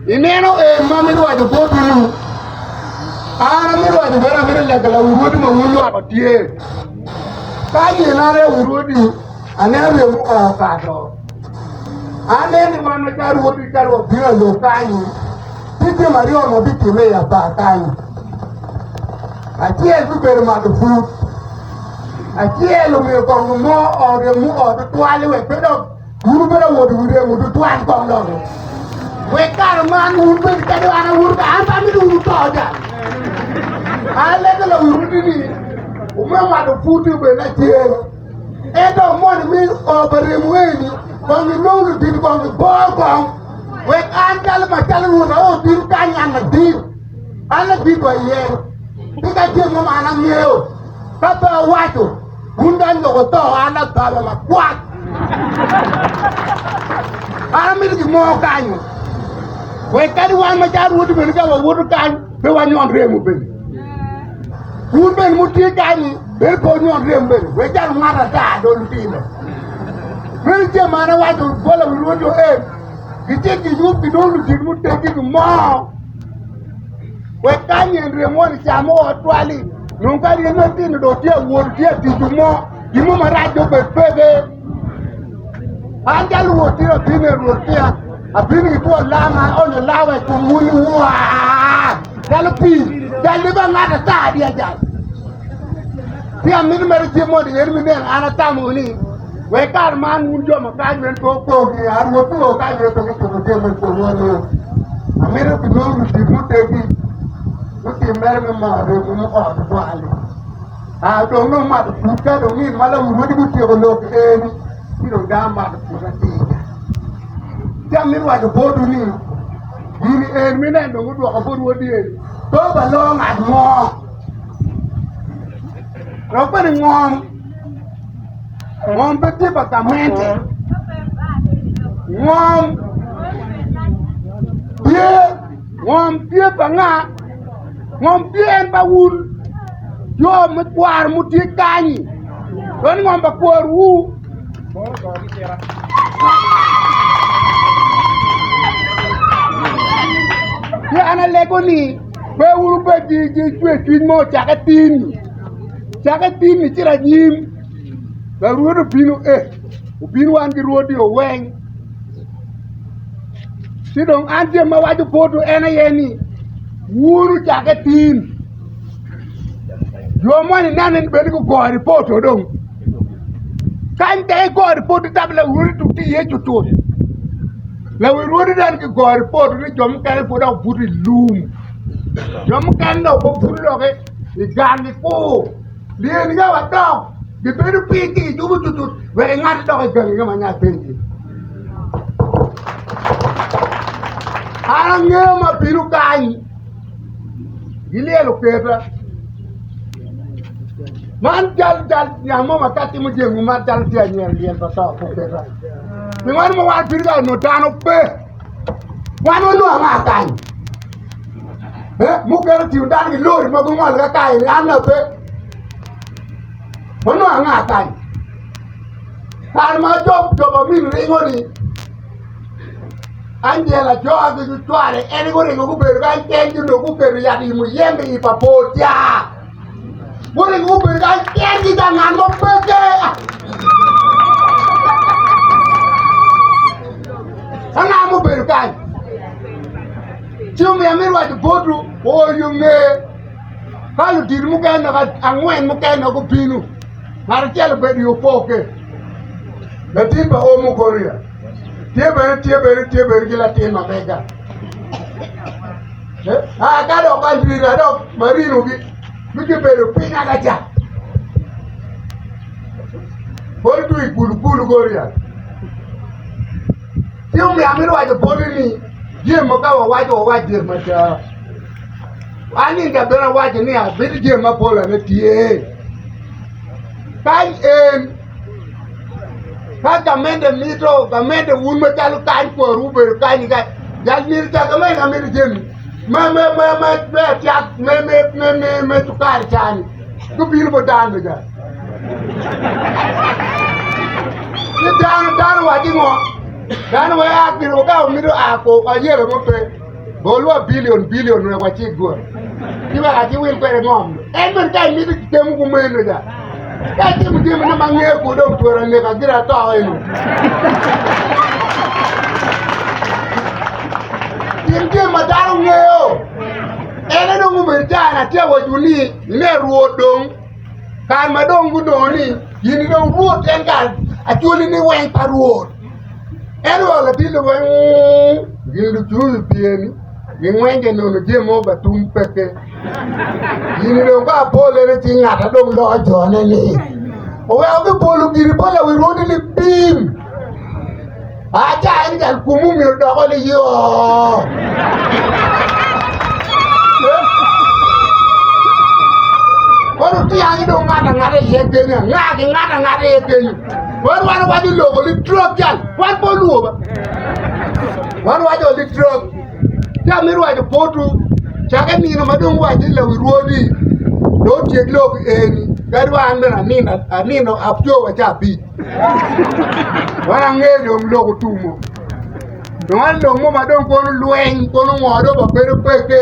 Ineno en ma mi lwaco botwu, an ami lwaco bene amito lega la urwodi ma wun lwak otye. Ka gin an rewo urwodi, ane aryo muka okato. An en ni wan ka rwodi ka rwot bino alo kanyi, ti jam aryo ma bitimme i aba kanyi. Acel bibedo mato put, acel omiyo kongo mo oge mu ot twali wek pe dok Wun wubedo awodo wi remo tutwal kong logo. Wek kare man wun bed kadi an awuto ka an amito wun to ja. An lege la wuru ni ume mato puti obed na cer. Ento mon mi o pa remo eni kong ilong ludin kong ibor kong. Wek an calo ma calo wun o din kany an na din. An la din wa iye. Tika ceng mo an angeo. Ka pe awaco Wun dong lok oto an adhalo lakwat. An amito gi mo kanyo. We kadi wan ma caro wodi bende ka wawoto kany pe wanyon remo bende. Wun bende mutye kanyi bende pe wanyon remo bende. We jalo ngat ata do lutino. Mene ce man awaco bola wi rwodi o en. Gitye ginyup gidong lutin muteggi gi mo. Wek ka nyen rye mo ni camo ot twali, nung ka rye matino do tye awol tye atico mo, gin mo marac do bed peke. An ka luwot tye abin e rwot kia, abin ki two lama, onyo lawa i kom wuni waa, calo pi, cal liba ngat ata adi ajal. Pi amino mere cik mo di yeri mi neno an atamo ni, Wek kare man wun jo ma kany wek pe opong ni a Rwot nongo kany wek pe gitimo jami i kom wonwu. Amito gilwongo ludit mutegi lutim mere me mor remo me ot otwal-li. A dong nongo mato put ka dong nino ma lawurwodi gutyeko lok eni ci dong dano mato put atir. Ci amito waco botwu ni gini en mine dong gudwoko bot wod yen pe obalongo ngat mo. Lok bene ngom ngom pe tye pa gamente ngom tye ngom tye pa nga ngom tye en pa wun jo me kwaro mutye kanyi dong ngom pa kworwu Yeah, and I like Pe wun wubed ki cwercwiny mo, cake tin, cake tin icito anyim, Larwod obino, ee, obino wan ki rwodi oweng. Ci dong an jami ma waco poto en aye ni wun wucakke tin. Jo moni ineno ni bene gugore i poto dong. Kany tek i gori pwod itam lawori dok tye iye jo tut lawirwori dong ki gori pwod ni jo mukene pwod dok buto i lum jo mukene dong pe buto dok i gang gikur lyel ka wadok gibedo piny ci gijuko jo tut wek ingat idok i gangi ka ma ngat pe tye an angeyo ma bino kany Gilyelo keta. Man jal jal jam mo ma ka timo jengu man jal tye anyel lyel pa to po keta. Ni wan mo wan piri ka no dano pe. Wan wa nwa nga kan. Eh, mo kero tiyo dano ki lori ma gumol ka kai ni an na pe. Wa nwa nga kan. Kan ma job job amin ringo ni Angel ajoka ki cucware en guringo gubedo kany kengi onongo guketo yat i muyembe i pa Portia. Guringo gubedo kany kengi ka ngat mo pe ke. Ka ngat mo obedo kany ci omiyo amito waco botu oyo nge ka ludito mukene nok angwen mukene nok gubino ngat acel obedo i opoke latin pa omo Korea. Tye bene tye bene tye bene ki latin ma mega. Eh, ah, ka dok ka lwira dok marino gi mi gibedo piny agaca. Pol tu i kulu kulu goria. Ci omiyo amito waco poli ni jami ma ka wawaco wawac jami mada. An inga bene awaco ni abedo jami ma polane tye. Kany en Ka gamedde mito, gamedde wun macalo kany kwaru obedo kany-nyi kany. Jal myero oca gamedde ameda jami me me me me me acak me me me me me cukari cani ka obino bot dano meja. Ni dano dano wacci ngo? Dano weko a gin weko ka mito a ko ayelo mo pe. Bolwa bilion bilion wek wacik gure, ci wek akiwil kwede ngom. En bene ka imito temo kumeno ca, ka itimo jami nongo ma angeyo ku dong twero aneka gire ato eno. Tim jami ma dano ngeyo. En aye dong obedo cana atye ka waco ni ine Rwot dong kare ma dong gunongo ni in dong Rwot en kare acwali ni weng pa Rwot. Ento wa latin weng gin lucuyu pye ni gingwenge nono jami mo ba tum peke. Gini dong ka apole ni cing ngata dong loko jone ni oweko ki polo giri pa lawi rwodi ni bim. Aca en jal kumu myero doko ni yo. Kono tiyangi dong ngata ngata iye kenya, ngaki ngata ngata iye kenya. Wan wan wajo loko li drug jal wan po luo ba wan wajo li drug jal mi wajo potu cake nino ma dong wajo la wi rwodi do tyek lok eni kadi wan bene anino anino abjo wa ca bi wan ange dong loko tumo dong an dong mo ma dong kono lweny kono ngoro ba bedo peke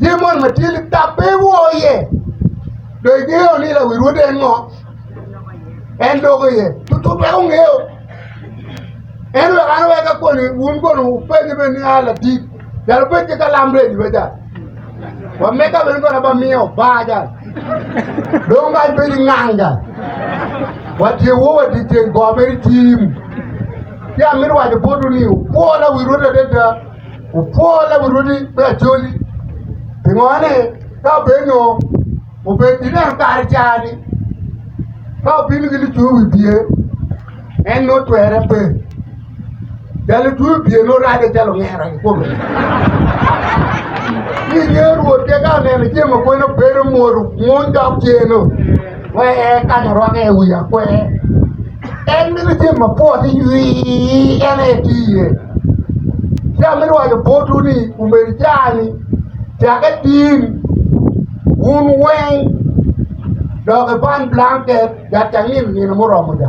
Tye mon ma tye litab pe iwor iye. Dong ingeyo ni lawi Rwot en ngo? En loko iye tutut wek ongeyo. En wek an weka koni wun kono wupenye bene ni a latit calo bed ki kalam redi be cal. Wa meka bene kono ba miyo oba cal. Dong kany bedi ngang cal. Wa tye wo wa tye tyen go mere tim. Ci amito waco botwu ni wukwo lawi Rwot adada. Wupwor laburudi me acholi, pingo ni ka obed nyo obed i neno kare cani, ka obino ki lutwe wi bye, en nongo twere pe. Ja lutwe wi bye nongo rade calo ongera i kome. Ni nge Rwot ke ka oneno jemo kwene obedo mwolo, mwony dok ceno. Wee kany orwakke i wi akwer. En mito cen mapwot ni nywii en aye tye iye. Ci amito waco botwu ni omego caa-ni cak itin wun weng dok iban blanket wek cangin nino muromo ca.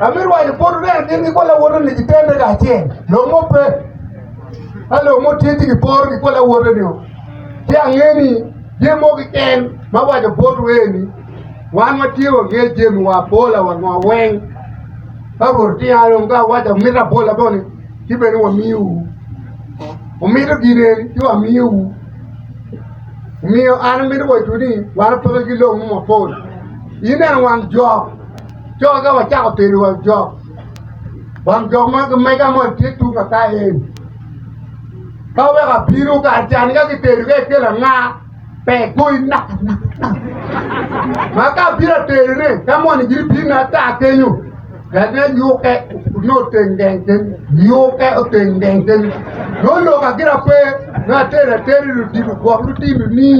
Amito waco bot oryen gin gikwo lawote ni gitende kacel lok mo pe ka lok mo tye ci giporo gikwo lawote ni ci ange ni jami mo kiken ma waco bot oryen ni wan watye wange jami wa abola wa ngo weng ka rwot otinga dong ka awaco amito abola bo ni ci bene wamiwu wumito gin eni ci wamiwu omiyo an amito waco ni wan pe wapeke ki lok mo mapol ineno wang jok Co ka wacako tedo wang jok, wang jok ma kimega mo tye tung kaka eni. Ka weko abino kar can ka kitedo ka ikelo anga pe igoyi nak nak nak. Ma ka abino atedone ka moni giri bino ata kenyo ene yuke ni oteng geng ken yuke oteng geng ken noloka gira pe ni atedo atedi lutino gwok lutino ni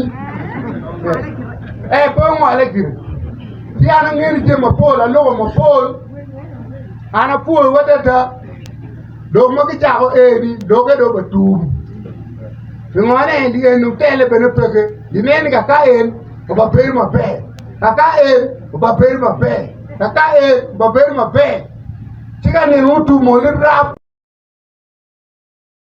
e pe ongole gire. Ci an angedo jami mapol, aloko mapol, an apwoyo adada, dok ma gicako eni doge do ba tum. Pingo ne di en otele bene peke, di ne ni kaka en oba bedo maber, kaka en oba bedo maber, kaka en oba bedo maber. Ci ka nino otum mo ni rap.